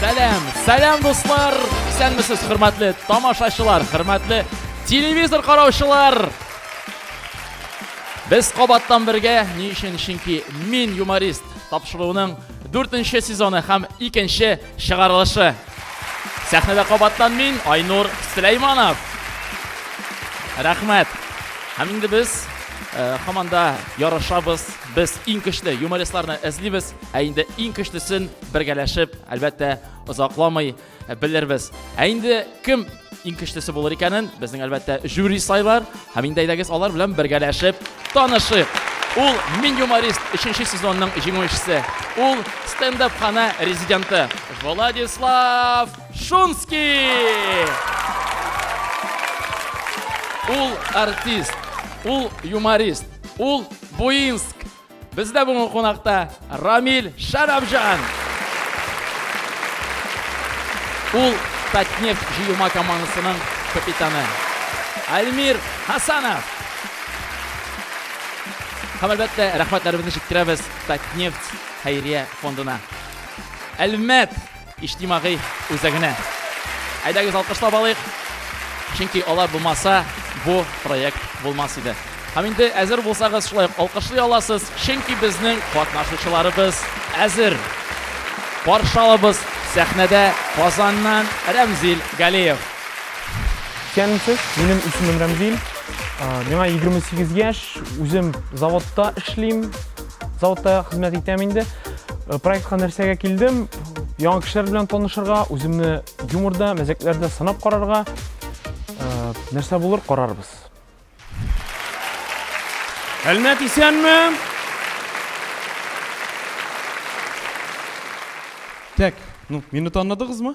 Сәлам, сәлам дуслар! Исәнмесез, хөрмәтле тамашачылар, хөрмәтле телевизор караучылар! Без кабаттан бергә, ни өчен? Чөнки мин юморист тапшыруының 4 нче сезоны һәм 2 нче чыгарылышы. Сәхнәдә кабаттан мин, Айнур Сөләйманов. Рәхмәт. Һәм инде без хаманда ярышабыз. Без иң көчле юмористларны эзлибез. Ә инде иң көчлесен бергәләшеп, әлбәттә, озакламый белербез. Ә инде кем иң көчлесе булыр икәнен безнең әлбәттә жюри сайлар. Һәм инде әйдәгез алар белән бергәләшеп танышыйк. Ул Мин юморист 3 сезонның җиңүчесе. Ул стендап хана резиденты Владислав Шунский. Ул артист, ул юморист, ул Буинск Бездә бүгін қонақта Рамиль Шәрәфжан. Ул Татнефть җыелма командасының капитаны. Альмир Хасанов. Һәм әлбәттә, рәхмәтләребезне җиткерәбез Татнефть хәйрия фондына. Әлмәт Иҗтимагый үзәгенә. Әйдәгез алкышлап алыйк. Чөнки алар булмаса, бу проект булмас иде. Һәм инде әзер булсагыз, шулай ук алкышлый аласыз, чөнки безнең катнашучыларыбыз әзер. Каршы алабыз сәхнәдә Казаннан Рәмзил Галиев. Исәнмесез, минем исемем Рәмзил. Миңа 28 яшь, үзем заводта эшлим. Заводта хезмәт итәм инде. Э, проектка нәрсәгә килдем? Яңа кешеләр белән танышырга, үземне юморда, мәзәкләрдә сынап карарга. Э, нәрсә булыр, карарбыз. Әлмәт исәнме? Так, ну, мине таныдыгызмы?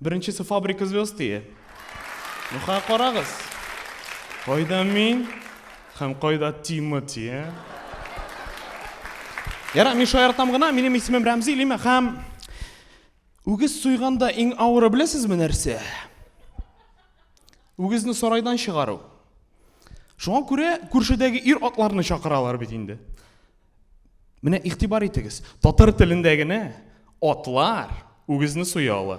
Беренчесе фабрика звезд дия. Юха карагыз. Кайда мин? Һәм кайда Тимати? Э? Яра, мин шаяртам гына, минем исемем Рәмзи Лима һәм үгез суйганда иң авыры беләсезме нәрсә? Үгезне сарайдан чыгару. Шуңа күрә күршедәге ир атларны чакыралар бит инде. Менә игътибар итегез, татар телендә генә атлар үгезне суя ала.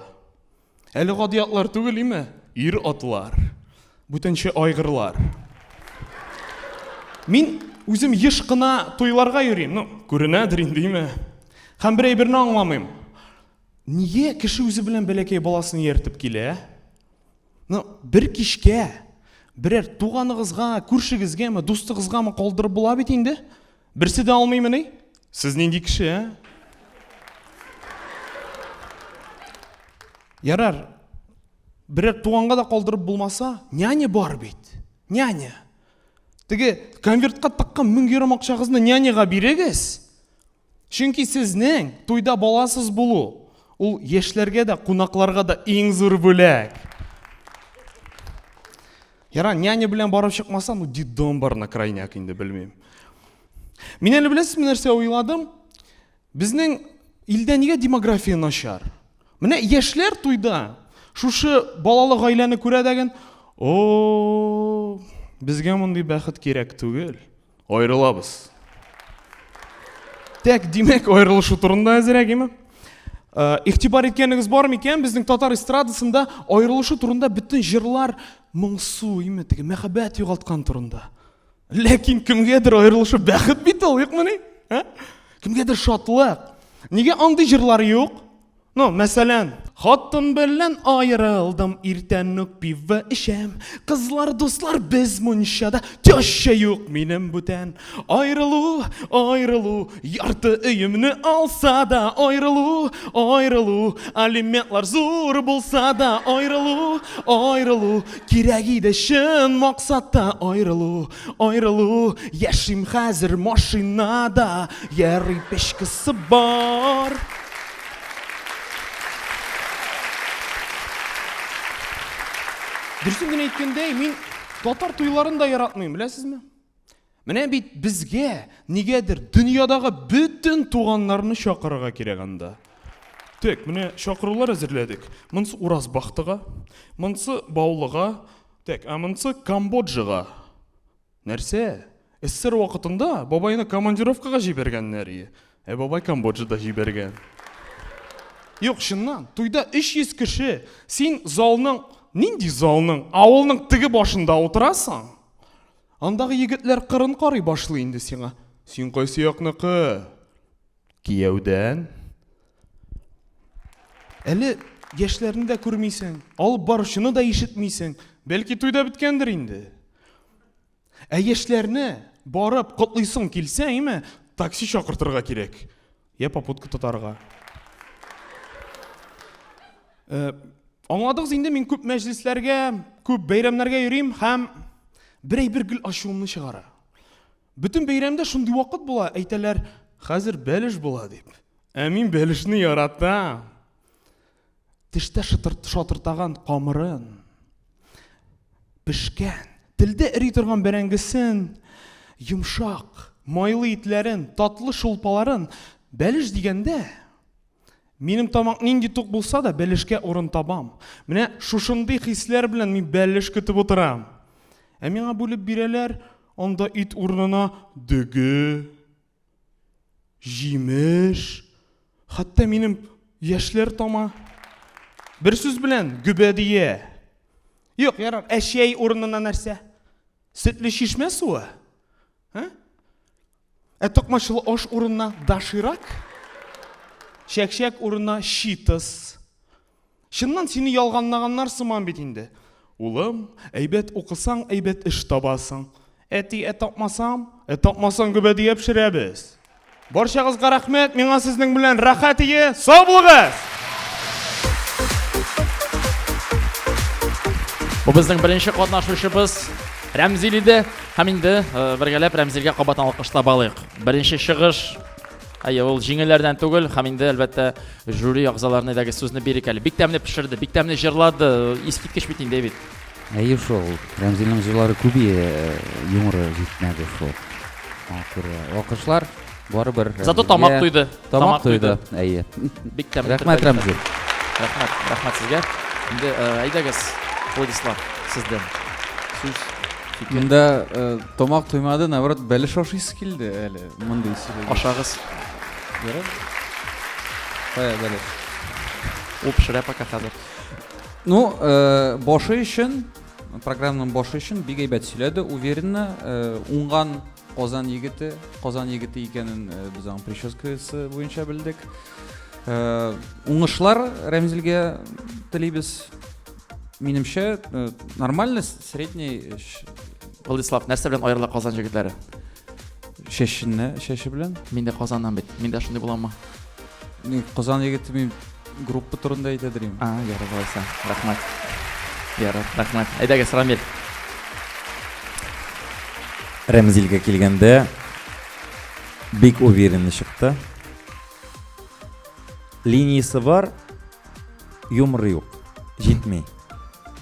Әле гади атлар түгел име? Ир атлар, бүтәнче айгырлар. Мин үзем еш кына туйларга йөрим, ну, күренәдер инде, име? Һәм бер әйберне аңламыйм. Нигә кеше үзе белән бәләкәй баласын ияртеп килә? Ну, бер кичкә берәр туганыгызга, күршегезгәме, дустыгызгамы калдырып була бит инде. Берсе дә алмыймыни? Сез нинди кеше, ә? Ярар, берәр туганга да калдырып булмаса, няня бар бит. Няня. Теге конвертка тыккан мең йөрәм акчагызны няняга бирегез. Чөнки сезнең туйда баласыз булу ул яшьләргә дә, кунакларга да иң зур бүләк. Яра, няня белән барып чыкмаса, ну дидом бар на крайняк инде белмим. Мин әле беләсезме нәрсә уйладым? Безнең илдә нигә демография начар? Менә яшьләр туйда шушы балалы гаиләне күрә дәген, о, безгә мондый бәхет кирәк түгел. Аерылабыз. Тәк, димәк, аерылышу турында әзерәк, име? Э, игътибар иткәнегез бар микән? Безнең татар эстрадасында аерылышу турында бөтен җырлар моңсу, име, теге мәхәббәт югалткан турында. Ләкин кемгәдер аерылышу бәхет бит ул, юкмыни? Ә? Кемгәдер шатлык. Нигә андый җырлар юк? Ну, мәсәлән, хатын белән аерылдым, иртән үк пиво эчәм. Кызлар, дуслар, без мунчада, теща юк минем бүтән. Аерылу, аерылу, ярты өемне алса да, аерылу, аерылу, алиментлар зур булса да, аерылу, аерылу, кирәк иде чын максатта, аерылу, аерылу, яшим хәзер машинада, йәри печкасы бар. Дөресен генә әйткәндә, мин татар туйларын да яратмыйм, беләсезме? Менә бит безгә нигәдер дөньядагы бөтен туганнарны чакырырга кирәк анда. Тек, менә чакырулар әзерләдек. Монсы Уразбахтыга, монсы Баулыга, тек, ә монсы Камбоджага. Нәрсә? Эсэр вакытында бабайны командировкага җибәргәннәр ие. Ә бабай Камбоджада җибәргән. Юк, чыннан, туйда 300 кеше. Син залның, нинди залның, авылның теге башында утырасың. Андагы егетләр кырын карый башлый инде сиңа. Син кайсы якныкы? Кияүдән. Әле яшьләрне дә күрмисең, алып баручыны да ишетмисең. Бәлки туй да беткәндер инде. Ә яшьләрне барып котлыйсың килсә, әйме, такси чакыртырга кирәк. Я попутка тотарга. Э, аңладыгыз инде мин күп мәҗлесләргә, күп бәйрәмнәргә йөрим һәм бер әйбер гел ачуымны чыгара. Бөтен бәйрәмдә шундый вакыт була, әйтәләр, хәзер бәлеш була дип. Ә мин бәлешне яратам. Тештә шатыртаган камырын, пешкән, телдә эри торган бәрәңгесен, йомшак, майлы итләрен, татлы шулпаларын бәлеш дигәндә, Минем тамак нинди тук булса да, бәлешкә урын табам. Менә шушындый хисләр белән мин бәлеш көтеп утырам. Ә миңа бүлеп бирәләр, анда ит урынына дөге, җимеш, хәтта минем яшьләр тама. Бер сүз белән гөбәдия. Юк, ярар, әшәй урынына нәрсә? Сөтле чишмә суы? Ә? Ә токмачлы аш урынына даширак? Чәкчәк урынына читыс. Чыннан сине ялганлаганнар сыман бит инде. Улым, әйбәт укысаң, әйбәт эш табасың. Әти, ә тапмасам? Ә тапмасаң гөбәдия пешерәбез. Барчагызга рәхмәт, миңа сезнең белән рәхәт ие, сау булыгыз! Бу безнең беренче катнашучыбыз Рәмзил иде. Һәм инде э, бергәләп Рәмзилгә кабаттан алкышлап алыйк. Беренче чыгыш Әйе, ул җиңелләрдән түгел, һәм инде әлбәттә жюри әгъзаларына дәге сүзне бирик әле. Бик тәмле пешерде, бик тәмле җырлады. Искиткеч бит инде бит. Әйе шул, Рәмзилнең җырлары күбие, юморы җитмәде шул. Шуңа күрә алкышлар барыбер Зато Рәмзилгә- тамак туйды. Тамак туйды, әйе. Бик тәмле. Рәхмәт, телдә Рәмзил. ятты. Рәхмәт, рәхмәт сезгә. Инде э, әйдәгез, Владислав, сездән сүз, фикер. Монда э, тамак туймады, наоборот, бәлеш ашыйсы килде әле. Мондый сөйләгәч. Ашагыз. Ярар. Кая бәлеш? Ул пешерә пока хәзер. Ну, э, башы өчен, программаның башы өчен бик әйбәт сөйләде, уверенно, э, уңган Казан егете, Казан егете икәнен э, без аның прическасы буенча белдек. Э, уңышлар Рәмзилгә телибез. Минемчә, э, нормально, средний Владислав, нәрсә белән аерыла Казан җегетләре? Чәченә, чәче белән. Мин дә Казаннан бит. Мин дә шундый буламмы? Мин Казан егете мин группа турында әйтә дим. А, ярар булса. Рәхмәт. Ярар, рәхмәт. Әйдәгез, Рамил. Рәмзилгә килгәндә бик уверенный чыкты. Линиясе бар, юмор юк. Җитми.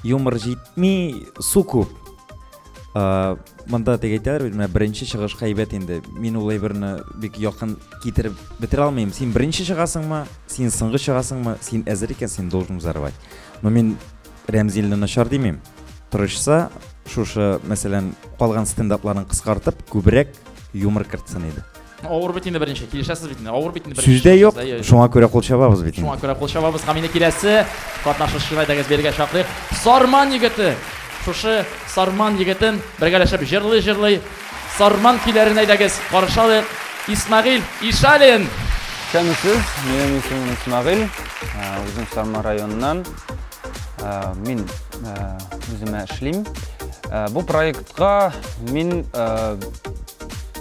Юмор җитми, су күп. ә, монда тек әйтәләр менә беренче чыгыш хәйбәт инде мин ул әйберне бик якын китереп бетерә алмыйм син беренче чыгасыңмы син соңгы чыгасыңмы син әзер икән син должен взорвать но мин рәмзилне начар димим тырышса шушы мәсәлән калган стендапларын кыскартып күбрәк юмор кертсен иде Авыр бит инде беренче, килешәсез бит инде. Авыр бит инде беренче. Сүздә юк, шуңа күрә кул чабабыз бит. Шуңа күрә кул чабабыз һәм инде киләсе катнашучыны әйдәгез бергә чакырыйк. Сарман егете. Шушы Сарман егетен бергәләшеп җырлый-җырлый Сарман көйләрен әйдәгез каршы алыйк. Исмагил Ишалин. Исәнмесез, минем исемем Исмагил, үзем Сарман районыннан. Мин үземә эшлим. Бу проектка мин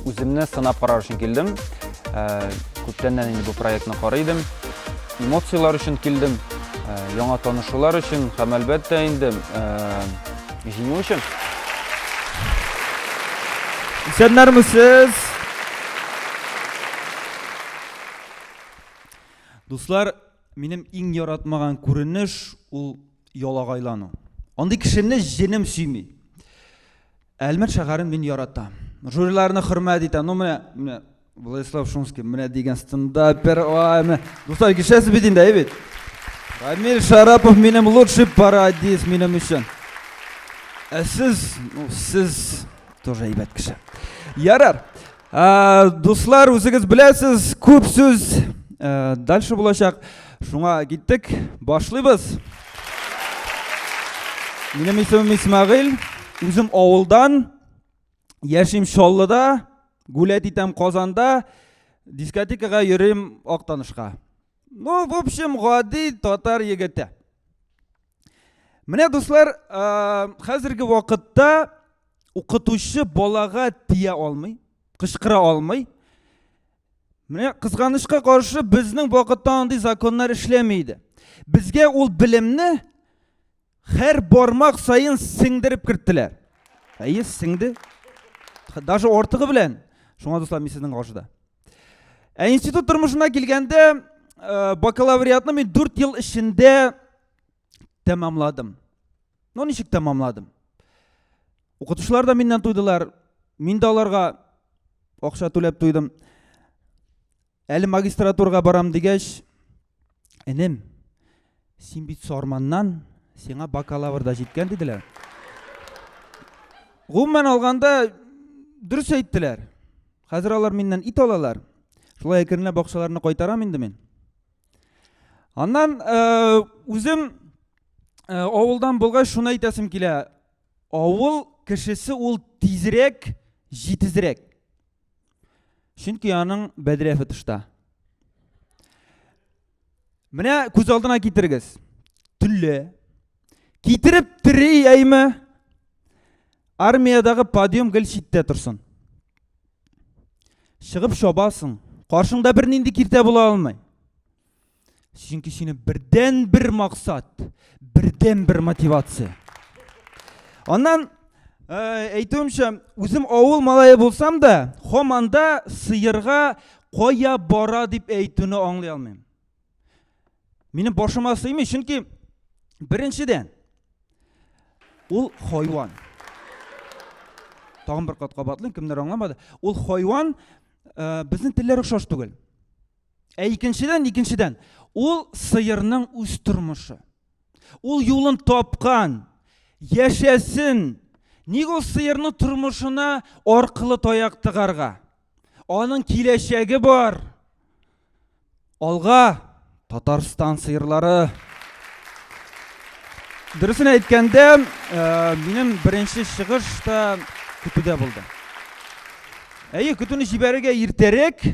Үземне сынап карар өчен килдем. Э, күптәннән инде бу проектны карый идем. Эмоцияләр өчен килдем, э, яңа танышулар өчен һәм әлбәттә инде э, җиңү өчен. Исәннәрме сез? Дуслар, минем иң яратмаган күренеш ул ялагайлану. Андый кешене җенем сөйми. Әлмәт шәһәрен мин яратам. Жюриларны хөрмәт итәм. Ну менә, менә Владислав Шумский менә дигән стендапер. Ай, менә. Дуслар, кешәсе бит инде, әйбит. Рамиль Шарапов минем лучший парадис минем өчен. Ә сез, ну, сез тоже әйбәт кеше. Ярар. Ә, дуслар, үзегез беләсез, күп сүз ә, дальше булачак. Шуңа киттек, башлыйбыз. Минем исемем Исмагыйль, үзем авылдан, яшим Чаллыда, гулять итәм Казанда, дискотекага йөрим Актанышка. Ну, в общем, гади татар егете. Менә дуслар, ә, хәзерге вакытта укытучы балага тия алмый, кычкыра алмый. Менә кызганычка каршы безнең вакытта андый законнар эшләми иде. Безгә ул белемне һәр бармак саен сеңдереп керттеләр. Әйе, сеңде. Даже ортыгы белән. Шуңа дуслар, мин сезнең каршыда. Ә институт тормышына килгәндә, э, бакалавриатны мин 4 ел эчендә тәмамладым. Ну, ничек тәмамладым? Укытучылар да миннән туйдылар, мин дә аларга акча түләп туйдым. Әле магистратурга барам дигәч, энем, син бит Сарманнан, сиңа бакалавр да җиткән диделәр. Гомумән алганда дөрес әйттеләр. Хәзер алар миннән ит алалар. Шулай әкренләп бакчаларына кайтарам инде мин. Аннан э, үзем э, авылдан булгач шуны әйтәсем килә. Авыл кешесе ул тизрәк, җитезрәк. Чөнки аның бәдрәфе тышта. Менә күз алдына китерегез. Түлле. Китереп тери әйме? Армиядагы подъем гел читтә торсын. Чыгып чабасың. Каршыңда бернинди киртә була алмый. Чөнки сине бердән бер максат, бердән бер мотивация. Аннан э, әйтүемчә, үзем авыл малае булсам да, хоманда сыерга кая бара дип әйтүне аңлый алмыйм. Минем башыма сыймый, чөнки беренчедән ул хайван. Тагын бер кат кабатлыйм, кемнәр аңламады. Ул хайван э, безнең телләр охшаш түгел. Ә икенчедән, икенчедән, ул сыерның үз тормышы. Ул юлын тапкан, яшәсен. Ник ул сыерның тормышына аркылы таяк тыгарга? Аның киләчәге бар. Алга Татарстан сыерлары. Дөресен әйткәндә, э, минем беренче чыгыш та көтүдә булды. Әйе, көтүне җибәрергә иртәрәк.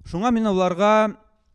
Шуңа мин аларга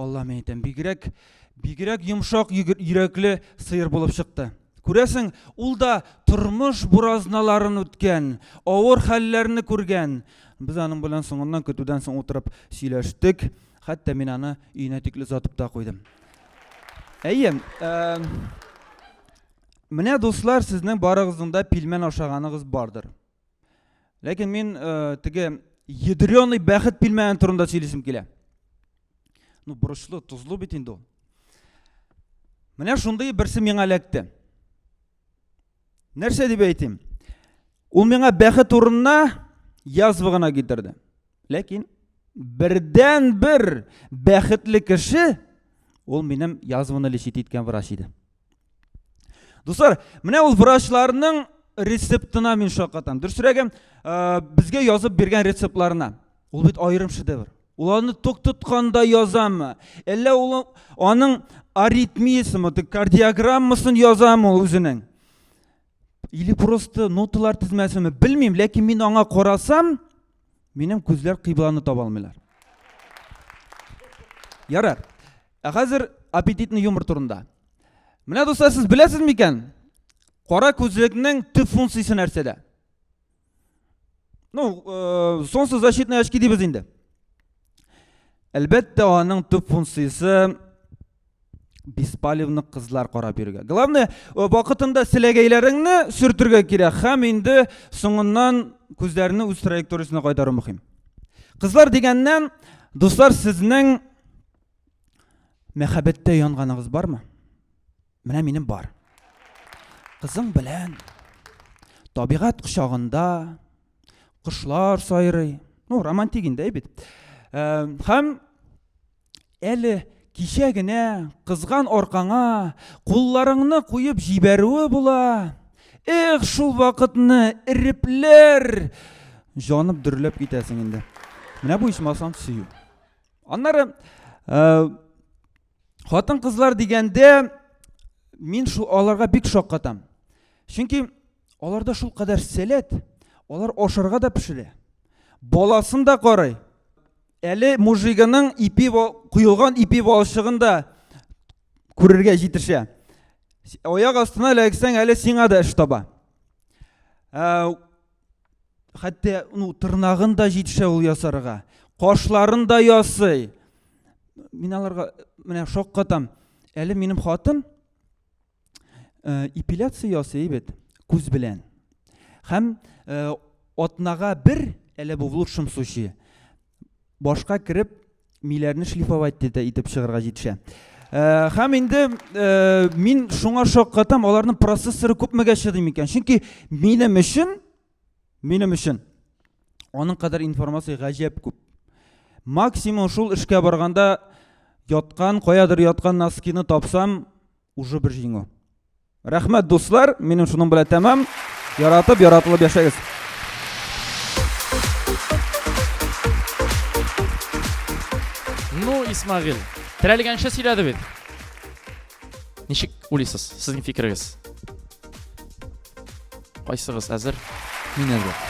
Аллам әйтәм, бигрәк, бигрәк йомшак йөрәкле сыер булып чыкты. Күрәсең, ул да тормыш буразналарын үткән, авыр хәлләрне күргән. Без аның белән соңыннан көтүдән соң утырып сөйләштек. Хәтта мин аны өенә тикле озатып та куйдым. Әйе, ә, менә дуслар, сезнең барыгызның да пилмән ашаганыгыз бардыр. Ләкин мин э, теге ядреный бәхет пилмәне турында сөйлисем килә. Ну, борычлы, тозлы бит инде ул. Менә шундый берсе миңа эләкте. Нәрсә дип әйтим? Ул миңа бәхет урынына язва гына китерде. Ләкин бердән бер бәхетле кеше ул минем язваны лечит иткән врач иде. Дуслар, менә ул врачларның рецептына мин шаккатам. Дөресрәге, э, безгә язып биргән рецептларына. Ул бит аерым шедевр. Ул аны ток тотканда язамы? Әллә ул аның аритмиясеме, кардиограммасын язамы ул үзенең? или просто ноталар тезмәсеме белмим ләкин мин аңа карасам минем күзләр кыйбланы таба алмыйлар ярар ә хәзер аппетитный юмор турында менә дуслар сез беләсез микән кара күзлекнең төп функциясе нәрсәдә Ну, э, солнце защитные очки дейбез инде. Әлбәттә, аның төп функциясе беспалевны кызлар карап йөрергә. Главное, э, вакытында селәгәйләреңне сөртергә кирәк һәм инде соңыннан күзләрне үз траекториясенә кайтару мөһим. Кызлар дигәннән, дуслар, сезнең мәхәббәттә янганыгыз бармы? Менә минем бар. Кызың белән табигать кочагында кошлар сайрый. Ну, романтик инде бит. Э, һәм әле кичә генә кызган аркаңа кулларыңны куеп җибәрүе була. Эх, шул вакытны ирепләр җанып дөрләп китәсең инде. Менә бу исмасан сөю. Аннары э, Хатын кызлар дигәндә мин шул аларга бик шаккатам. Чөнки аларда шул кадәр сәләт, алар ашарга да пешерә. Баласын да карый. Әле мужигының ипи куелган ипи балчыгын да күрергә җитешә. Аяк астына эләксәң әле сиңа да эш таба. Ә, хәтта ну, тырнагын да җитешә ул ясарга кашларын да ясый мин аларга менә шаккатам әле минем хатын э, эпиляция ясый бит күз белән һәм э, атнага бер әле бу в лучшем случае башка кереп миләрне шлифовать диде итеп чыгарга җитешә э, һәм инде э, мин шуңа шаккатам аларның процессоры күпмегә чыдый микән чөнки минем өчен минем өчен аның кадәр информация гаҗәп күп максимум шул эшкә барганда яткан каядыр яткан носкины тапсам уже бер җиңү Рәхмәт, дуслар, минем шуның белән тәмам. Яратып, яратылып яшәгез. Ну, Исмагил, терәлгәнчә сөйләде бит. Ничек уйлыйсыз, сезнең фикерегез? Кайсыгыз әзер? Мин әзер.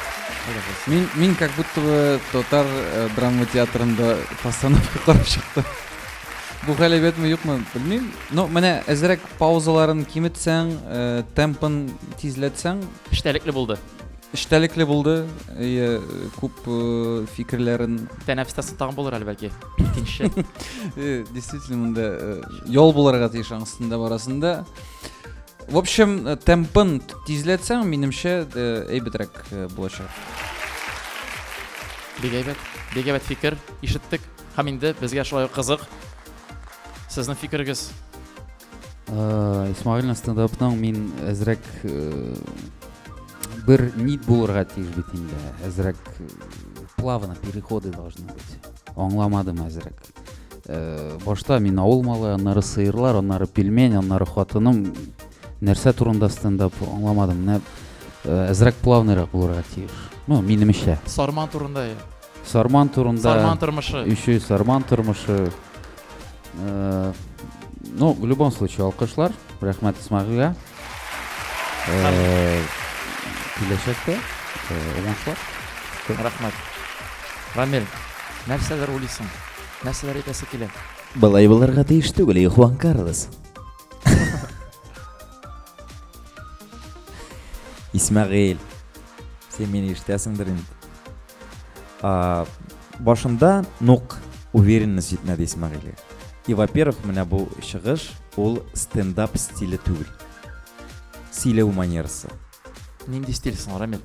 Мин, мин как будто бы татар э, драма театрында постановка карап чыктым. Бу галәбәтме юкмы, белмим. Но менә әзрәк паузаларын киметсәң, э, темпын тизләтсәң, Эчтәлекле булды. эчтәлекле булды. Э, күп э, фикерләрен Тәнәфестәсе тагын булыр әле бәлки. Икенче. Э, действительно монда э, ял булырга тиеш аңсында барасында В общем, э, темпын тизләтсәң, минемчә, э, әйбәтрәк э, булачак. Бик әйбәт. Бик әйбәт фикер ишеттек. Һәм инде безгә шулай ук кызык. Сезнең фикерегез? Э, Исмаилның стендапның мин әзрәк э, бер нит булырга тиеш бит инде. Әзрәк э, плавно переходы должны быть. Аңламадым әзрәк. Э, башта мин авыл малы аннары сыерлар аннары пельмень аннары хатыным нәрсә турында стендап аңламадым менә э, әзрәк плавныйрак булырга тиеш ну минемчә сарман турында иә сарман турында сарман тормышы еще и сарман тормышы э, ну в любом случае алкышлар рахмат исмагилга Киләчәктә уңышлар. Күп рәхмәт. Рамил, нәрсәләр уйлыйсың? Нәрсәләр әйтәсе килә? Былай булырга тиеш түгел, Хуан Карлос. Исмәгыйль, син мине ишетәсеңдер инде. А, башында нук уверенность җитмәде Исмәгыйле. И, во-первых, менә бу чыгыш ул стендап стиле түгел. Сөйләү манерасы. Нинди стиль соң, Рамил?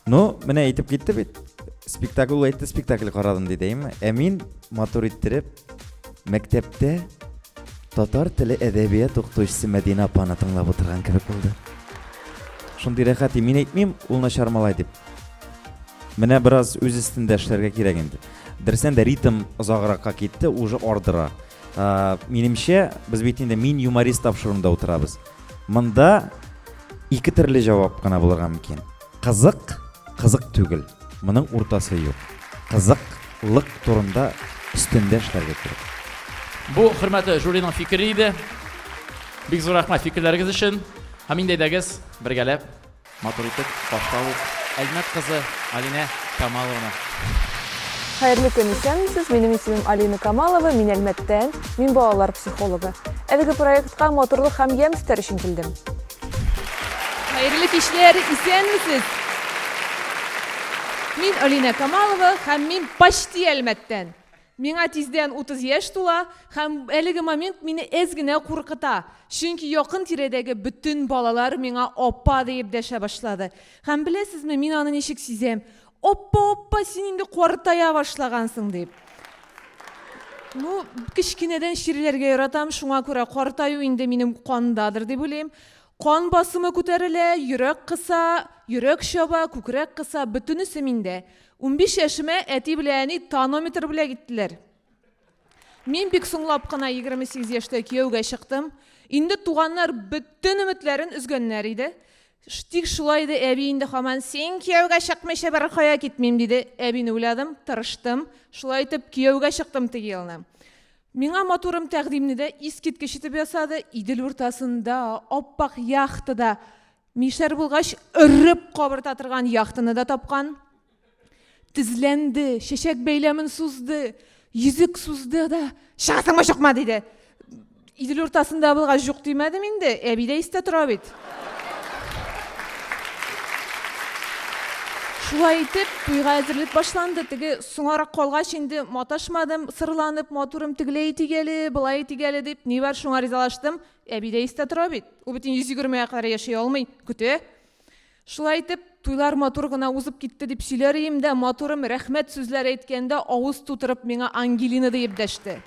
Ну, менә әйтеп китте бит. Спектакль әйтте, спектакль карадым ди, дәйме? Ә мин матур иттереп, Мәктәптә татар теле әдәбият укытучысы Мәдинә апаны тыңлап утырган кебек булды. Шундый рәхәт, мин әйтмим, ул начар малай дип. Менә бераз үз өстендә эшләргә кирәк инде. Дөресен дә ритм озагракка китте, уже ардыра. Ә, минемчә, без бит инде мин юморист тапшыруында утырабыз. Монда ике төрле җавап кына булырга мөмкин. Кызык, кызык түгел, моның уртасы юк. Кызык, лык турында өстендә эшләргә кирәк. Бу хөрмәтле жюриның фикере иде. Бик зур рәхмәт фикерләрегез өчен. Һәм инде әйдәгез, бергәләп матур итеп башта ук Әлмәт кызы Алинә Камалованы. Хәерле көн, исәнмесез. Минем исемем Алина Камалова, мин Әлмәттән, мин балалар психологы. Әлеге проектка матурлык һәм ямь өстәр өчен килдем. Хәерле кичләр, исәнмесез! Мин Алинә Камалова һәм мин почти Әлмәттән. Миңа тиздән 30 яшь тула һәм әлеге момент мине әз генә куркыта, чөнки якын тирәдәге бөтен балалар миңа апа диеп дәшә башлады. Һәм беләсезме, мин аны ничек сизәм? Оппа-оппа, син инде картая башлагансың, дип. Ну, кечкенәдән чирләргә яратам, шуңа күрә картаю инде минем кандадыр дип уйлыйм. Кан басымы күтәрелә, йөрәк кыса, йөрәк чаба, күкрәк кыса, бөтенесе миндә. Унбиш яшемә әти белән әни тонометр белән киттеләр. Мин бик соңлап кына егерме сигез яшьтә кияүгә чыктым. Инде туганнар бөтен өметләрен өзгәннәр иде. Тик шулай иде, әби инде хаман син кияүгә чыкмыйча беркая китмим диде. Әбине уйладым, тырыштым. Шулай итеп, кияүгә чыктым теге елны. Миңа матурым тәкъдимне дә искиткеч итеп ясады. Идел уртасында, аппак яхтада, мишәр булгач, өреп кабырта торган яхтаны да тапкан. Тезләнде, чәчәк бәйләмен сузды, йөзек сузды да, чыгасыңмы, чыкма, диде. Идел уртасында булгач, җук димәдем инде, әби дә истә тора бит. Шулай итеп, туйга әзерлек башланды. Теге соңарак калгач инде маташмадым, сырланып, матурым тегеләй тигәле, былай тигәле дип, ни бар шуңа ризалаштым. Әби дә истә тора бит. Ул бит 120 га кадәр яши алмый, көтә. Шулай итеп, туйлар матур гына узып китте дип сөйләр ием дә, матурым рәхмәт сүзләр әйткәндә авыз тутырып миңа Ангелина диеп дәште.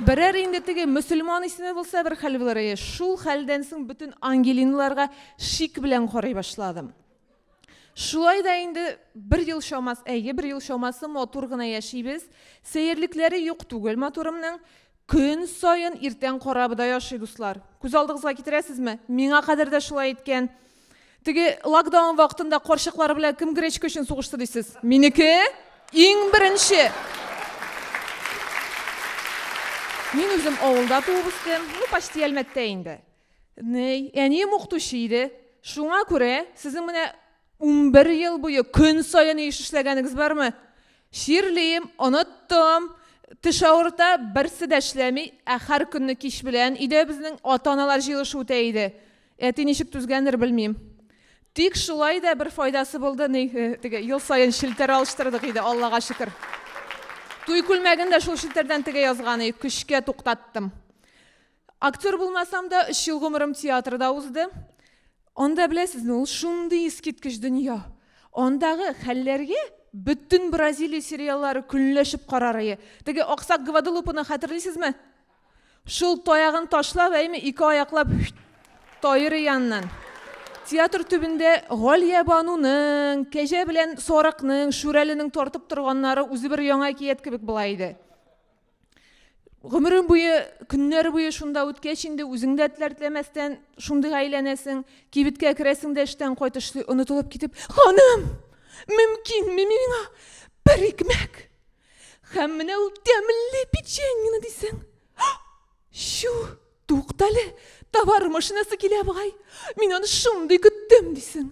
Берәр инде теге мөселман исеме булса бер хәл булыр ие. Шул хәлдән соң бөтен Ангелиналарга шик белән карый башладым. Шулай да инде бер ел чамасы, әйе, бер ел чамасы матур гына яшибез. Сәерлекләре юк түгел матурымның. Көн саен иртән корабыда яши, дуслар. Күз алдыгызга китерәсезме? Миңа кадәр дә шулай иткән. Теге локдаун вакытында карчыклар белән кем гречка өчен сугышты дисез? Минеке иң беренче. Мин үзем авылда туып үстем, ну почти Әлмәттә инде. Әнием укытучы иде. Шуңа күрә сезнең менә Унбер ел буе көн саен еш эшләгәнегез бармы? Чирлим, оныттым, теш авырта, берсе дә эшләми, ә һәр көнне кич белән өйдә безнең ата-аналар җыелышы үтә иде. Әти ничек түзгәндер, белмим. Тик шулай да бер файдасы булды, ни, теге, ел саен челтәр алыштырдык иде, Аллага шөкер. Туй күлмәген дә шул челтәрдән тегә язган иде, көчкә туктаттым. Актер булмасам да, өч ел гомерем театрда узды. Анда беләсезме, ул шундый искиткеч дөнья. Андагы хәлләргә бөтен Бразилия сериаллары көнләшеп карарые. Теге аксак Гваделупаны хәтерлисезме? Шул таягын ташлап, әйме, ике аяклап тайыры яннан. Театр төбендә Галия Бануның, Кәҗә белән Сарыкның, Шүрәленең тартып торганнары үзе бер яңа әкият кебек була иде. гомерең буе көннәр буе шунда үткәч инде үзең дә теләр теләмәстән шундыйга әйләнәсең кибеткә керәсең дә эштән кайтышлый онытылып китеп ханым мөмкинме миңа бер икмәк һәм менә ул тәмле печеньены дисең чу туктале товар машинасы килә бугай мин аны шундый көттем дисең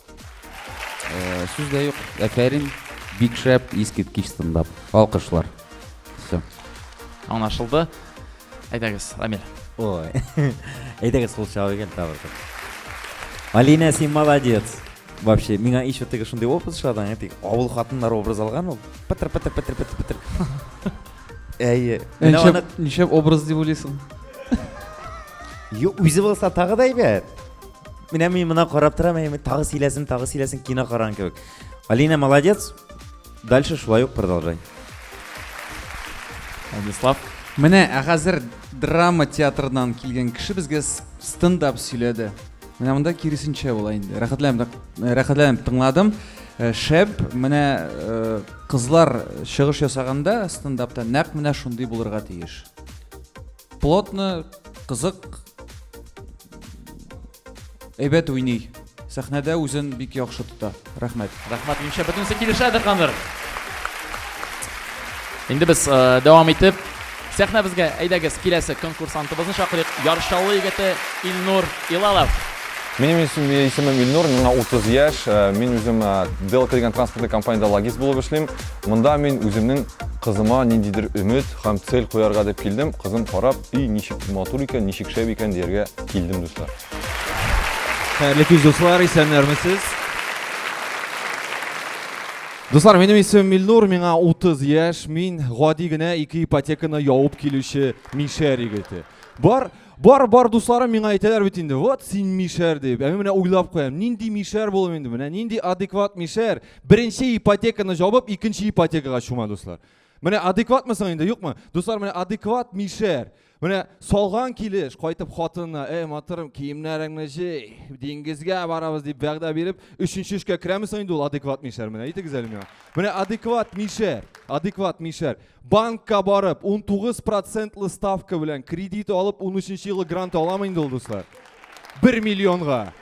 Сүз дә юк. Әфәрин. Бик шәп, искиткеч стендап. Алкышлар. Все. Аңлашылды. Әйдәгез, Рамил. Ой. Әйдәгез кул чагу икән табылды. Алина, син молодец. Вообще, миңа еще теге шундый образ шадан, тик авыл хатыннары образ алган ул. Пытыр пытыр пытыр пытыр пытыр. Әйе. Менә Ничек, аны ничек образ дип уйлыйсың? Ю, үзе булса тагы да әйбәт. менә мин мына карап торам әйме тагы сөйләсен тагы сөйләсен кино караган кебек алина молодец дальше шулай ук продолжай владислав менә ә хәзер драма театрыннан килгән кеше безгә стендап сөйләде менә монда киресенчә була инде рәхәтләнеп рәхәтләнеп тыңладым э, шәп менә э, кызлар чыгыш ясаганда стендапта нәкъ менә шундый булырга тиеш Плотно, кызык, әйбәт уйный. Сәхнәдә үзен бик яхшы тота. Рәхмәт. Рәхмәт, минемчә бөтенесе килешәдер хәзер. Инде без э, дәвам итеп сәхнәбезгә әйдәгез киләсе конкурсантыбызны чакырыйк. Яршаулы егете Илнур Илалов. Минем исем, исемем Илнур, миңа 30 яшь. Э, мин үзем э, Дел кергән транспортлы компаниядә логист булып эшлим. Монда мин үземнең Кызыма ниндидер өмет һәм цель куярга дип килдем. Кызым карап, өй ничек матур икән, ничек шәп икән дияргә килдем, дуслар. Хәерле күз дуслар, исәннәрмесез? Дуслар, минем исемем Милнур, миңа 30 яшь, мин гади генә ике ипотеканы явып килүче мишәр егете. Бар, Бар, бар дусларым миңа әйтәләр бит инде, вот син мишәр дип. Ә мин менә уйлап куям, нинди мишәр булу инде менә, нинди адекват мишәр. Беренче ипотеканы җабып, икенче ипотекага чума дуслар. Менә адекватмысың инде, юкмы? Дуслар, менә адекват мишәр. Менә салган килеш кайтып хатынына, "Эй, матырым, киемнәреңне җый, диңгезгә барабыз" дип вәгъдә биреп, өченче эшкә керәмесең инде ул адекват мишәр менә. Әйтегез әле миңа. Менә адекват мишәр, адекват мишәр. Банкка барып, 19 процентлы ставка белән кредит алып, 13 елы грант аламы инде ул, дуслар? 1 миллионга.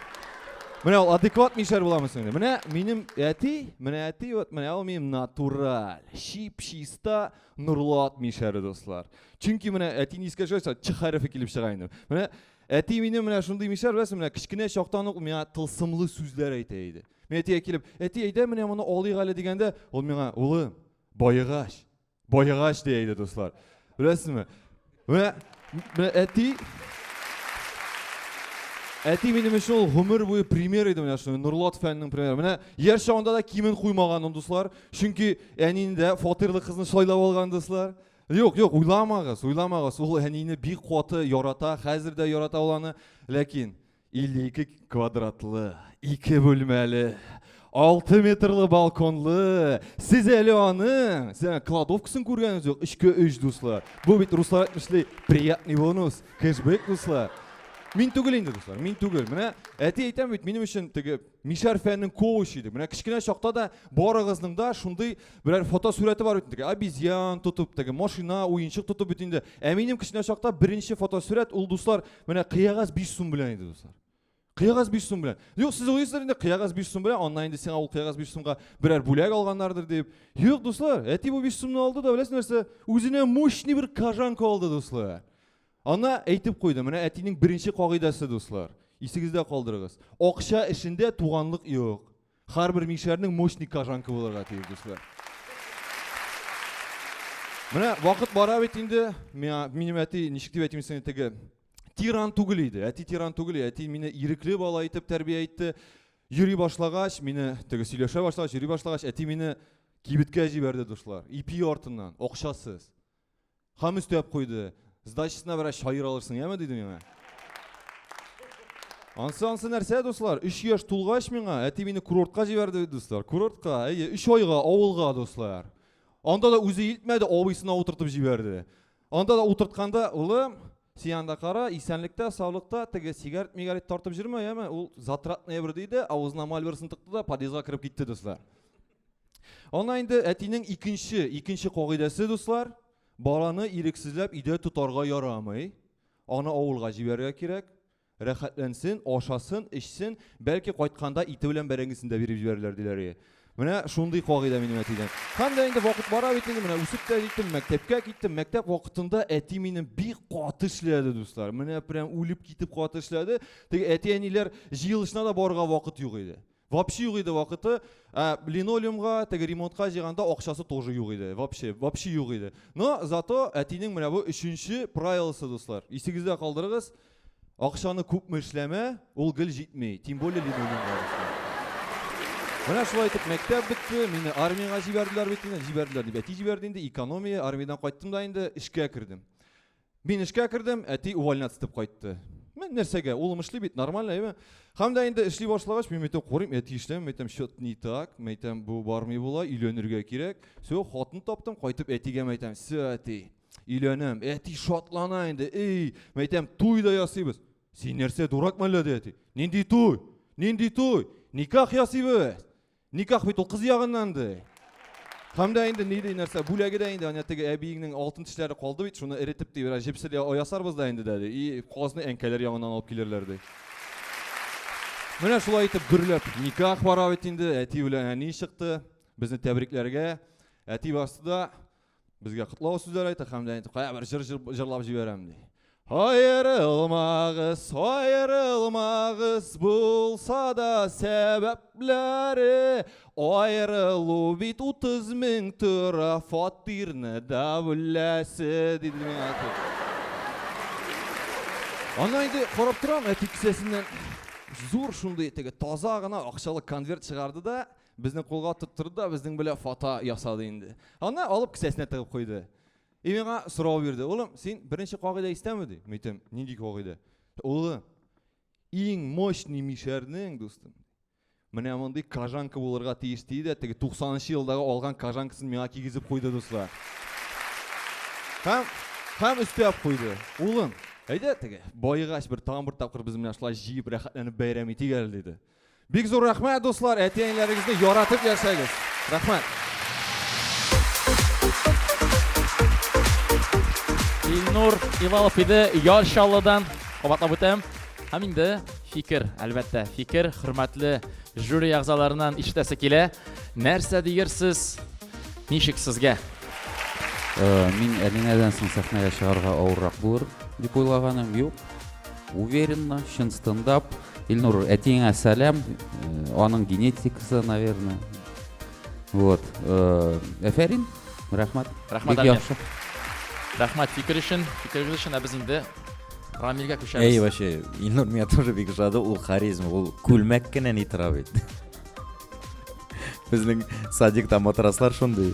Менә ул адекват мишәр буламыз инде. Менә минем әти, менә әти, вот менә ул минем натураль, чип чиста нурлат мишәре, дуслар. Чөнки менә әти нискә җойса, ч хәрефе килеп чыга инде. Менә әти минем менә шундый мишәр, беләсең, менә кечкенә чактан ук миңа тылсымлы сүзләр әйтә иде. Мен әтигә килеп, әти, әйдә менә моны алыйк әле дигәндә, ул миңа, улым, Баегач. Баегач дия иде, дуслар. Беләсезме? Менә менә әти Әти минем өчен ул гомер буе пример иде менә шуны. Нурлат фәннең примеры. Менә яр чагында да кимен куймаган ул дуслар. Чөнки әниендә фатирлы кызны сайлап алган дуслар. Юк, юк, уйламагыз, уйламагыз. Ул әнине бик каты ярата, хәзер дә ярата ул аны. Ләкин 52 квадратлы, ике бүлмәле, 6 метрлы балконлы. Сез әле аның, сез кладовкасын күргәнегез юк, эчке өч дуслар. Бу бит руслар әйтмешли, приятный бонус, кэшбэк дуслар. Мин түгел инде дуслар, мин түгел. Менә әти әйтәм бит, минем өчен теге мишәр фәннең коучы иде. Менә кечкенә чакта да барыгызның да шундый берәр фотосурәте бар бит инде. Обезьян тотып, теге машина, уенчык тотып бит инде. Ә минем кечкенә чакта беренче фотосурәт ул дуслар Менә кыягаз 5 сум белән иде, дуслар. Кыягаз 5 сум белән. Юк, сез уйлыйсыздар инде, кыягаз 5 сум белән, аннан инде сиңа ул кыягаз 5 сумга берәр бүләк алганнардыр дип. Юк, дуслар, әти бу 5 сумны алды да, беләсез нәрсә? Үзенә мощный бер кожанка алды, дуслар. Ана әйтеп куйды, менә әтинең беренче кагыйдәсе, дуслар. Исегездә калдырыгыз. Акча эшендә туганлык юк. Һәрбер мишәрнең мощный кожанка булырга тиеш, дуслар. Менә вакыт бара бит инде. Минем әти ничек дип әйтим сине теге тиран түгел иде. Әти тиран түгел, әти мине ирекле бала итеп тәрбия итте. Йөри башлагач, мине теге сөйләшә башлагач, йөри башлагач, әти мине кибеткә җибәрде, дуслар. Ипи артыннан, акчасыз. Хам өстәп куйды. Сдачасына бераз чаер алырсың, яме, диде миңа. Ансы ансы нәрсә, дуслар? 3 яшь тулгач миңа әти мине курортка җибәрде бит, дуслар. Курортка, әйе, 3 айга авылга, дуслар. Анда да үзе илтмәде, абыйсына утыртып җибәрде. Анда да утыртканда, улым, син анда кара, исәнлектә, саулыкта, теге сигарет мигарет тартып җөрмә, яме, ул затратная бер диде, авызына мальберсын тыкты да подъездга кереп китте, дуслар. Ана инде әтинең икенче, икенче кагыйдәсе, дуслар, баланы ирексезләп өйдә тотарга ярамый. Аны авылга җибәрергә кирәк. Рәхәтләнсен, ашасын, эчсен, бәлки кайтканда ите белән бәрәңгесен дә биреп җибәрерләр диләр. Менә шундый кагыйдә минем әтидән. Һәм дә инде вакыт бара бит инде, менә үсеп тә җиттем, мәктәпкә киттем. Мәктәп вакытында әти мине бик каты эшләде, дуслар. Менә прям үлеп китеп каты эшләде. Теге әти-әниләр җыелышына да барырга вакыт юк иде. Вообще юк иде вакыты. Ә линолеумга, теге ремонтка җыйганда акчасы тоже юк иде. Вообще, вообще юк иде. Но зато әтинең менә бу өченче правиласы, дуслар. Исегездә калдырыгыз. Акчаны күпме эшләмә, ул гел җитми. Тем более линолеумга. Менә шулай итеп мәктәп бетте, мине армиягә җибәрделәр бит инде, җибәрделәр дип әти җибәрде инде, экономия, армиядән кайттым да инде эшкә кердем. Мин эшкә кердем, әти увольняться итеп кайтты. Мен нәрсәгә? Улым эшли бит, нормально, әйме? Һәм дә инде эшли башлагач, мин әйтәм, карыйм, әти эшләми, әйтәм, счет не так, мен әйтәм, бу бармый була, өйләнергә кирәк. Все, хатын таптым, кайтып әтигә мен әйтәм, все, әти, өйләнәм. Әти шатлана инде, эй, мен әйтәм, туй да ясыйбыз. Син нәрсә, дурак мәллә, ди әти. Нинди туй? Нинди туй? Никах ясыйбыз. Никах бит ул кыз ягыннан ди. Һәм дә инде ни ди нәрсә, бүләге дә инде ана теге әбиеңнең алтын тешләре калды бит, шуны эретеп ди, бераз җепсел ясарбыз да инде дә ди. И казны әнкәләр ягыннан алып килерләр ди. Менә шулай итеп гөрләп никах бара бит инде, әти белән әни чыкты. Безне тәбрикләргә әти басты да Безгә котлау сүзләр әйтә һәм дә әйтеп, кая бер җыр җырлап җибәрәм ди. Аерылмагыз, аерылмагыз булса да сәбәпләре. Аерылу бит 30 мең тора фатирны да бүләсе диде миңа әти. Ана инде карап торам әти кесәсеннән зур шундый теге таза гына акчалы конверт чыгарды да Безне кулга тоттырды да безнең белә фата ясады инде. Аны алып кесәсенә тыгып куйды. И миңа сорау бирде. Улым, син беренче кагыйдә истәме ди? Митем, нинди кагыйдә? Улы, иң мощный мишәрнең, дустым, менә мондый кожанка булырга тиеш ди дә, теге 90-нчы елдагы алган кожанкасын миңа кигезеп куйды, дуслар. Һәм һәм өстәп куйды. Улым, әйдә теге, баегач бер тагын бер тапкыр без менә шулай җыеп рәхәтләнеп бәйрәм итик әле, диде. Бик зур рәхмәт, дуслар, әти-әниләрегезне яратып яшәгез. Рәхмәт. Илнур Ивалов иде Яр Чаллыдан кабатлап үтәм. Һәм инде фикер, әлбәттә, фикер хөрмәтле жюри әгъзаларыннан ишетәсе килә. Нәрсә диерсез? Ничек сезгә? Э, мин Әлинәдән соң сәхнәгә чыгарга авыррак булыр дип уйлаганым юк. Уверенно, чын стендап. Илнур, әтиеңә сәлам, аның генетикасы, наверное. Вот. Әфәрин, рәхмәт. Рәхмәт, Әлмир. Рәхмәт фикер өчен, фикерегез өчен, ә без инде Рамилгә күчәбез. Әй, вообще, Илнур меня тоже бик ошады, ул харизма, ул күлмәк кенә ни тора бит. Безнең садикта матраслар шундый.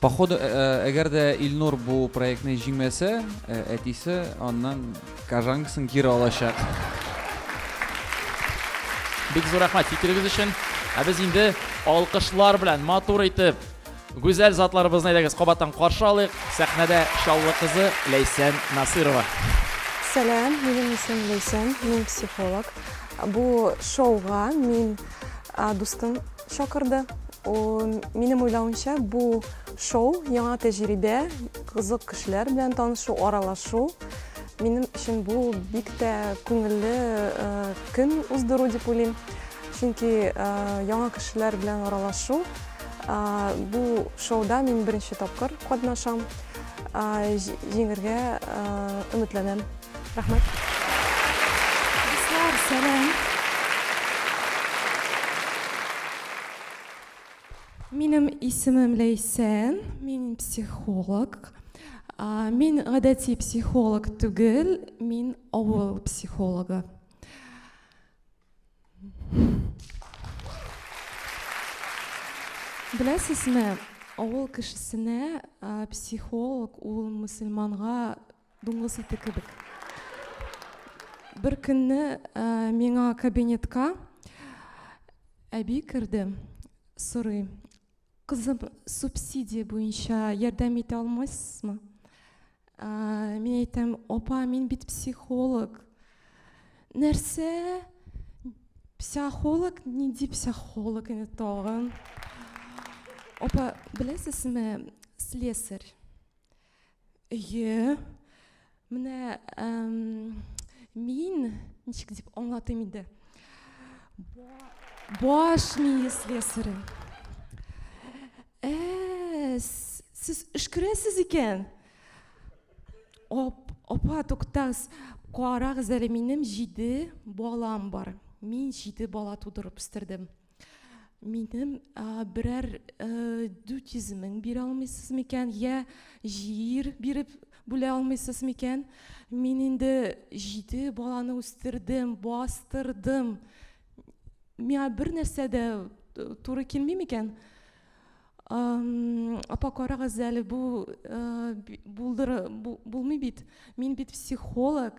Походу, э, э, әгәр дә Илнур бу проектны җиңмәсә, э, әтисе аннан кожанкасын кире алачак. Бик зур рәхмәт фикерегез өчен. Ә без инде алкышлар белән матур итеп гүзәл затларыбызны әйдәгез кабаттан каршы алыйк. Сәхнәдә Чаллы кызы Ләйсән Насырова. Сәлам, минем исем Ләйсән, мин психолог. Бу шоуга мин дустым чакырды. Минем уйлавымча, бу шоу, яңа тәҗрибә, кызык кешеләр белән танышу, аралашу. Минем өчен бу бик тә күңелле көн уздыру дип уйлыйм. Чөнки яңа кешеләр белән аралашу, бу шоуда мин беренче тапкыр катнашам. Җиңергә өметләнәм. Рәхмәт. Дуслар, сәлам. Минем исемем Ләйсән, мин психолог. Мин гадәти психолог түгел, мин авыл психологы. Беләсезме, авыл кешесенә психолог ул мөселманга Дуңгыз ите кебек. Бер көнне ә, миңа кабинетка әби керде, сорый, кызым, субсидия буенча ярдәм итә алмайсызмы? Ә, мин әйтәм, апа, мин бит психолог. Нәрсә? Психолог? Нинди психолог инде тагын? Апа, беләсезме, слесарь. Әйе. Менә мин ничек дип аңлатыйм инде. Баш мие слесаре. Ә, сез өшкерәсез икән. Оп, опа, туктагыз. Карагыз әле, минем җиде балам бар. Мин җиде бала тудырып үстердем. Минем берәр дю тизимең бирә алмыйсыз микән? Йә җир биреп бүлә алмыйсыз микән? Мин инде җиде баланы үстердем, бастырдым. Миңа бер нәрсә дә туры килми микән? Апа, карагыз әле, бу булдыры, бу булмый бит. Мин бит психолог.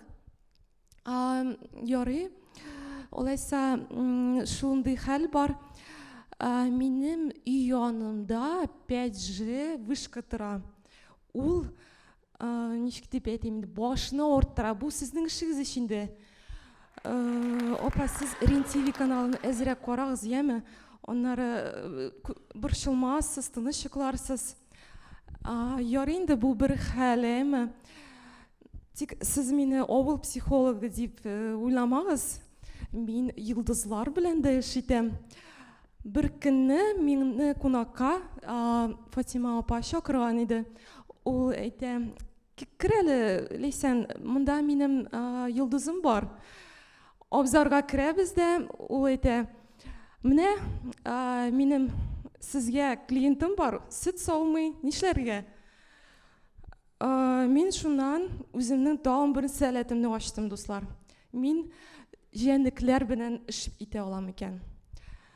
Ярый, алайса шундый хәл бар. Минем өй янында 5G вышка тора. Ул ничек дип әйтим инде, башны авырттыра. Бу сезнең эшегез ич инде. Апа, сез РЕН-ТВ каналын әзрәк карагыз, яме? Аннары борчылмассыз, тыныч йокларсыз. Ярый инде бу бер хәлем. Тик сез мине авыл психологы дип э, уйламагыз. Мин йолдызлар белән дә эш итәм. Бер көнне мине кунакка Фатима апа чакырган иде. Ул әйтә, Кер әле, Ләйсән, монда минем йолдызым бар. Абзарга керәбез дә, ул әйтә, менә минем сезгә клиентым бар, сөт саумый, нишләргә? Мин шуннан үземнең тагын бер сәләтемне ачтым, дуслар. Мин җәнлекләр белән эш итә алам икән.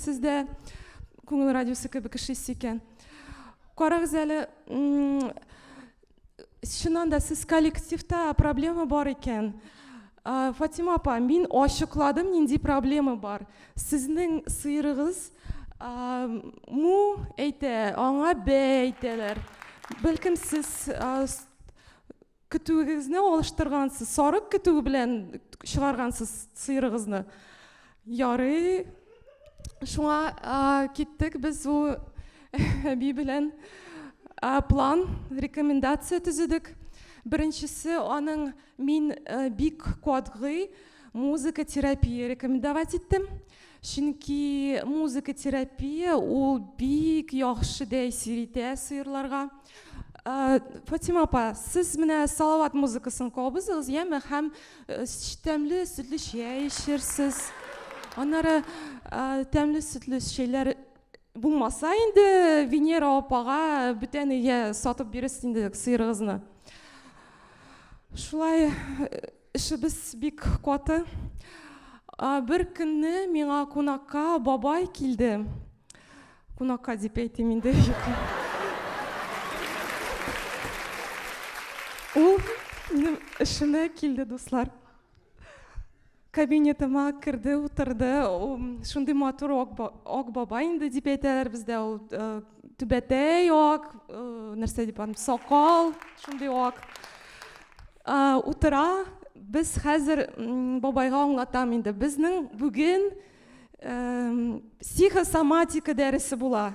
Сез дә күңел радиосы кебек эшлисез икән. Карагыз әле, чыннан да сез коллективта проблема бар икән. Фатима апа, мин ачыкладым, нинди проблема бар. Сезнең сыерыгыз му әйтә, аңа бә әйтәләр. Бәлкем сез Көтүегезне алыштыргансыз, сарык көтүе белән чыгаргансыз сыерыгызны. Ярый. Шуңа киттек без бу әби белән план, рекомендация төзедек. Беренчесе аның мин бик катгый музыка терапия рекомендовать итте чөнки музыка терапия ул бик яхшы тәэсир итә сыерларга ә, фатима апа сез менә салават музыкасын кабызыгыз яме һәм э, тәмле сөтле чәй эчерсез аннары ә, тәмле сөтле чәйләр булмаса инде венера апага бүтән өйгә сатып бирерсез инде сыерыгызны шулай э, Эшебез бик каты. Бер көнне миңа кунакка бабай килде. Кунакка дип әйтим инде. Ул минем эшемә килде, дуслар. Кабинетыма керде, утырды. Шундый матур ак бабай инде дип әйтәләр бездә. Ул э, түбәтәй ак, э, нәрсә дип аны, сакал, шундый ак. Утыра, без хәзер бабайга аңлатам инде, безнең бүген психосоматика дәресе була.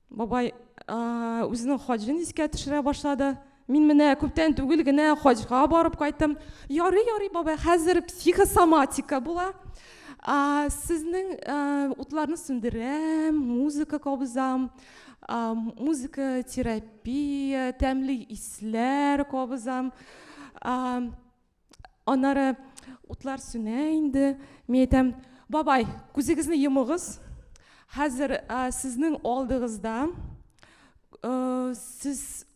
Бабай үзенең хаҗын искә төшерә башлады. Мин менә күптән түгел генә хаҗга барып кайттым. Ярый, ярый, бабай, хәзер психосоматика була. Сезнең утларны сүндерәм, музыка кабызам. музыка терапия тәмле исләр кабызам аннары утлар сүнә инде мин әйтәм бабай күзегезне йомыгыз хәзер сезнең алдыгызда сез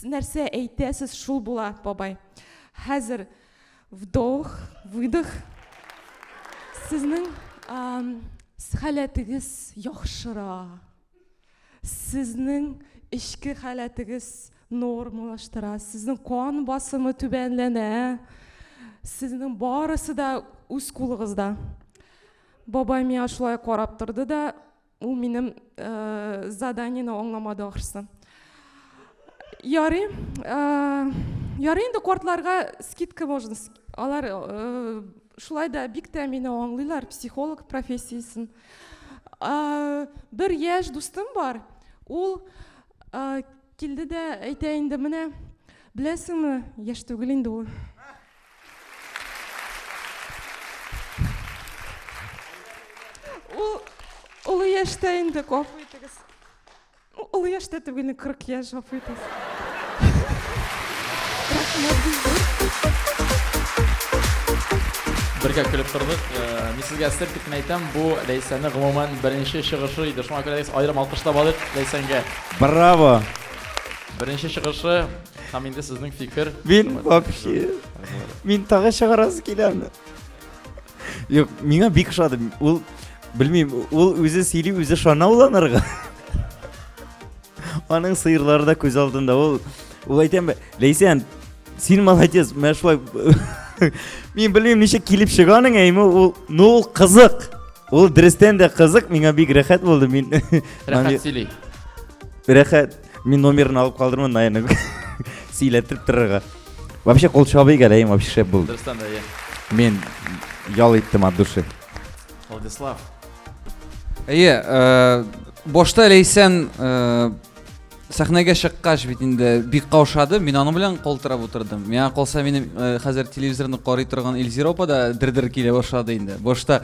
нәрсә әйтәсез, шул була, бабай. Хәзер вдох, выдох. Сезнең халәтегез яхшыра. Сезнең эчке халәтегез нормалаштыра. Сезнең кан басымы түбәнләнә. Сезнең барысы да үз кулыгызда. Бабай миңа шулай карап торды да, Ул минем э, заданиене аңламады ахрысы. Ярый, э, ярый инде кортларга скидка можно. Алар э, шулай да бик тә мине аңлыйлар, психолог профессиясен. Э, бер яшь дустым бар. Ул э, килде дә әйтә инде менә, беләсеңме, яшь түгел инде ул. Ул олы яшьтә инде, гафу итегез. Олы яшьтә түгел, 40 яшь, гафу итегез. Бергә көлеп тордык. Э, мин сезгә сер китмей әйтәм, бу Ләйсәнне гомумән беренче чыгышы иде. Шуңа күрә дә аерым алкышлап алыйк Ләйсәнгә. Браво! Беренче чыгышы Һәм инде сезнең фикер. Мин вообще. Мин тагы чыгарасы килә аны. Юк, миңа бик ошады. Ул белмим, ул үзе сөйли, үзе шана уланырга. Аның сыерлары да күз алдында. Ул ул әйтәм, Ләйсән, син молодец, менә шулай. Мин белмим, ничек килеп чыганың, әйме ул, ну ул кызык. Ул дөрестән дә кызык, миңа бик рәхәт булды. Мин Рәхәт сөйли. Рәхәт. Мин номерын алып калдырмын, наверное, сөйләтеп торырга. Вообще кол чабый гәләем вообще шәп булды. Дөрестән дә, Мин ял иттем от души. Владислав. Әйе, э, башта Ләйсән э, сәхнәгә чыккач бит инде бик каушады. Мин аның белән калтырап утырдым. Миңа калса минем э, хәзер телевизорны карый торган Эльзиропа да дер-дер килә башлады инде. Башта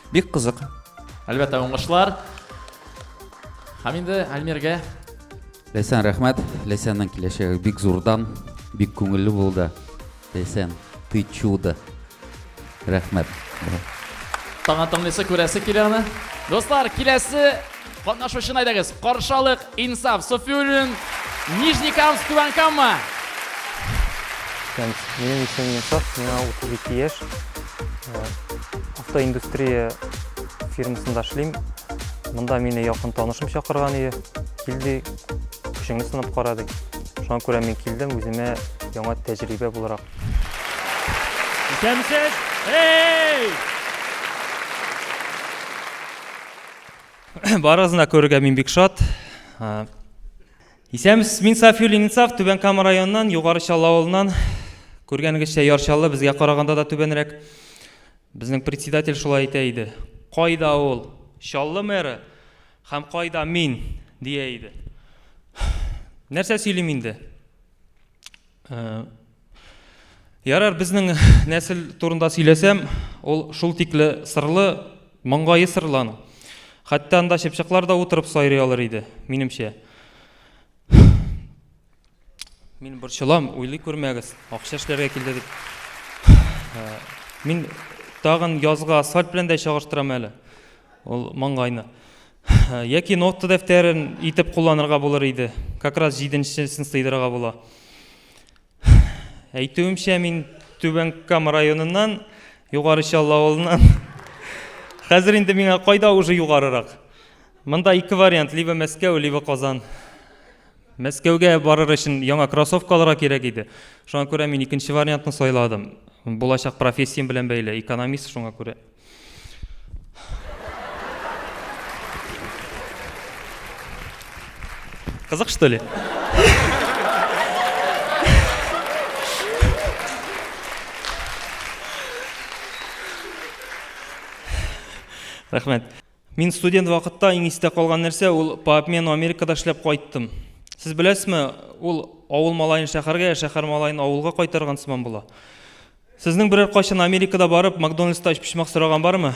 Бик кызык. Әлбәттә, уңышлар. Һәм инде Әлмиргә. Ләйсән, рәхмәт. Ләйсәннең киләчәге бик зурдан, бик күңелле булды. Ләйсән, ты чудо. Рәхмәт. Таңа тыңлыйсы күрәсе килә аны. Дуслар, киләсе Катнашучыны әйдәгез каршы алыйк, Инсаф Суфиуллин, Нижнекамск, Түбән Кама. Минем исемем Инсаф, миңа 32 яшь. Э, автоиндустрия фирмасында эшлим. Монда мине якын танышым чакырган иде. Килде, көчеңне сынап карады. Шуңа күрә мин килдем, үземә яңа тәҗрибә буларак. Исәнмесез! Эй! Барыгызны да күрергә мин бик шат. Исәмс, мин Сафиул Инсаф, Түбән Кама районыннан, Югары Чаллы авылыннан. Күргәнегезчә, Яр Чаллы безгә караганда да түбәнрәк. Безнең председатель шулай әйтә иде. Кайда ул? Чаллы мэры һәм кайда мин? дия иде. Нәрсә сөйлим инде? Ярар, безнең нәсел турында сөйләсәм, ул шул тикле сырлы, маңгае сырлан. Хәтта анда чыпчыклар да утырып сайрый алыр иде, минемчә. Мин борчылам, уйлый күрмәгез, акча эшләргә килде дип. Э, мин тагын язга асфальт белән дә чагыштырам әле. Ул маңгайны. Яки нота дәфтәрен итеп кулланырга булыр иде. Как раз җиденчесен сыйдырырга була. Әйтүемчә, мин Түбән Кама районыннан, Югары Чал авылыннан. Хәзер инде миңа кайда уже югарырак? Монда ике вариант, либо Мәскәү, либо Казан. Мәскәүгә барыр өчен яңа кроссовка алырга кирәк иде. Шуңа күрә мин икенче вариантны сайладым. Булачак профессиям белән бәйле, экономист шуңа күрә. Кызык, что ли? Рахмет. Мин студент вакытта иң истә калган нәрсә ул по обмену Америкада эшләп кайттым. Сез беләсезме, ул авыл малаен шәһәргә, ә шәһәр малаен авылга кайтарган сыман була. Сезнең берәр кайчан Америкада барып, Макдональдста өчпочмак сораган бармы?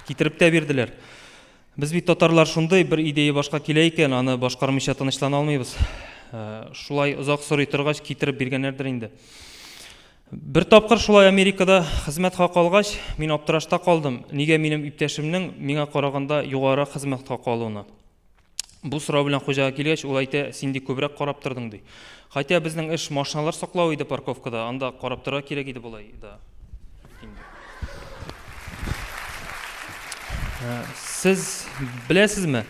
Китереп тә бирделәр. Без бит татарлар шундый, бер идея башка килә икән, аны башкармыйча тынычлана алмыйбыз. Э, шулай озак сорый торгач, китереп биргәннәрдер инде. Бер тапкыр шулай Америкада хезмәт хакы алгач, мин аптырашта калдым, нигә минем иптәшемнең миңа караганда югарырак хезмәт хакы алуына. Бу сорау белән хуҗага килгәч, ул әйтә, син ди күбрәк карап тордың, ди. Хәтя безнең эш машиналар саклау иде парковкада, анда карап торырга кирәк иде болай да. Сез беләсезме,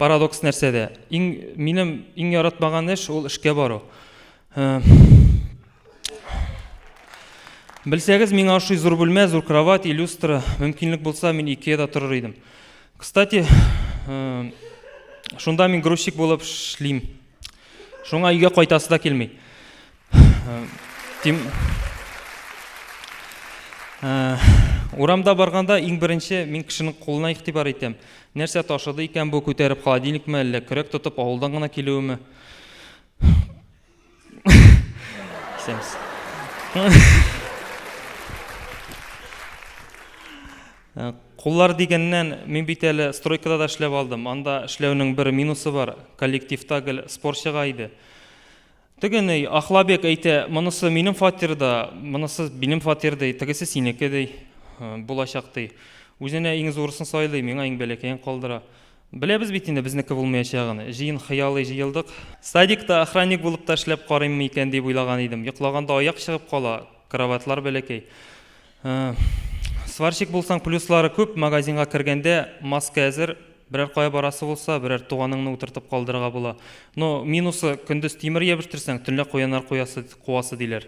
парадокс нәрсәдә? Иң минем иң яратмаган эш ул эшкә бару. Э, Белсәгез, миңа ошый зур бүлмә, зур кровать, люстра. Мөмкинлек булса, мин Икеяда торыр идем. Кстати, э, шунда мин грузчик булып эшлим. Шуңа өйгә кайтасы да килми. Э, тим... Э, урамда барганда иң беренче мин кешенең кулына игътибар итәм. Нәрсә ташыды икән бу, күтәреп холодильникме, әллә көрәк тотып авылдан гына килүеме? Исәнмесез. Э, куллар дигәннән, мин бит әле стройкада да эшләп алдым. Анда эшләүнең бер минусы бар. Коллективта гел спорщига иде. Тегене Ахлабек әйтә, монысы минем фатирда, монысы минем фатир ди, тегесе синеке ди, э, булачак ди. Үзенә иң зурысын сайлый, миңа иң бәләкәен калдыра. Беләбез бит инде безнеке булмаячагын. Җыен хыялый җыелдык. Садикта охранник булып та эшләп карыйммы икән дип уйлаган идем. Йоклаганда аяк чыгып кала, кроватьлар бәләкәй. Сварщик булсаң, плюслары күп, магазинга кергәндә маска әзер, берәр кая барасы булса, берәр туганыңны утыртып калдырырга була. Но минусы, көндез тимер ябештерсәң, төнлә куяннар куасы, диләр.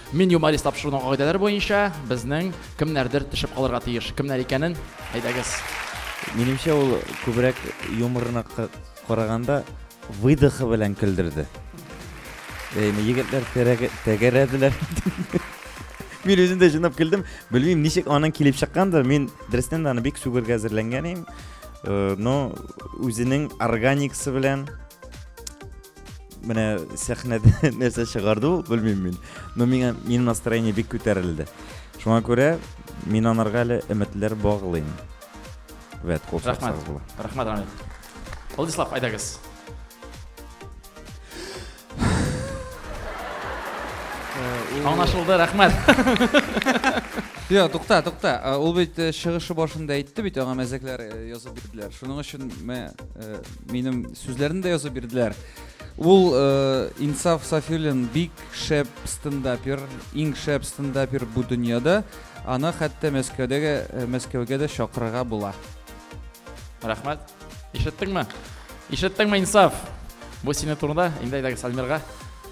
Мин юморист тапшыруның кагыйдәләре буенча безнең кемнәрдер төшеп калырга тиеш. Кемнәр икәнен әйдәгез. Минемчә, ул күбрәк юморына караганда выдохы белән көлдерде. Әйме, егетләр тәгәрәделәр. Мин үзем дә җынап көлдем. Белмим, ничек аның килеп чыккандыр. Мин дөрестән дә аны бик сүгергә әзерләнгән идем. Э, но үзенең органикасы белән менә сәхнәдә нәрсә чыгарды ул белмим мин но миңа минем настроение бик күтәрелде шуңа күрә мин анарга әле өметләр баглыйм вәт кул рәхмәт рәхмәт рамил владислав айдагыз э, аңлашылды рәхмәт Йо, тукта, тукта. Ул бит э, чыгышы башында әйтте бит, аңа мәзәкләр э, язып бирделәр. Шуның өчен мә э, минем сүзләрне дә язып бирделәр. Ул э, Инсаф Сафилин бик шәп стендапер, иң шәп стендапер бу дөньяда. Аны хәтта Мәскәүдәге э, Мәскәүгә дә чакырырга була. Рәхмәт. Ишеттеңме? Ишеттеңме, Инсаф? Бу сине турында инде әйдәгез Альмирга.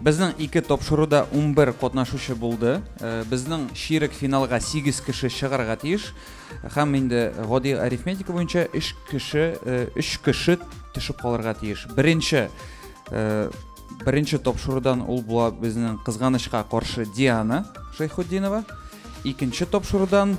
Безнең ике тапшыруда унбер катнашучы булды. Безнең чирек финалга сигез кеше чыгарга тиеш. Һәм инде гади арифметика буенча өч кеше, өч кеше төшеп калырга тиеш. Беренче беренче тапшырудан ул була безнең кызганычка каршы Диана Шәйхутдинова. Икенче тапшырудан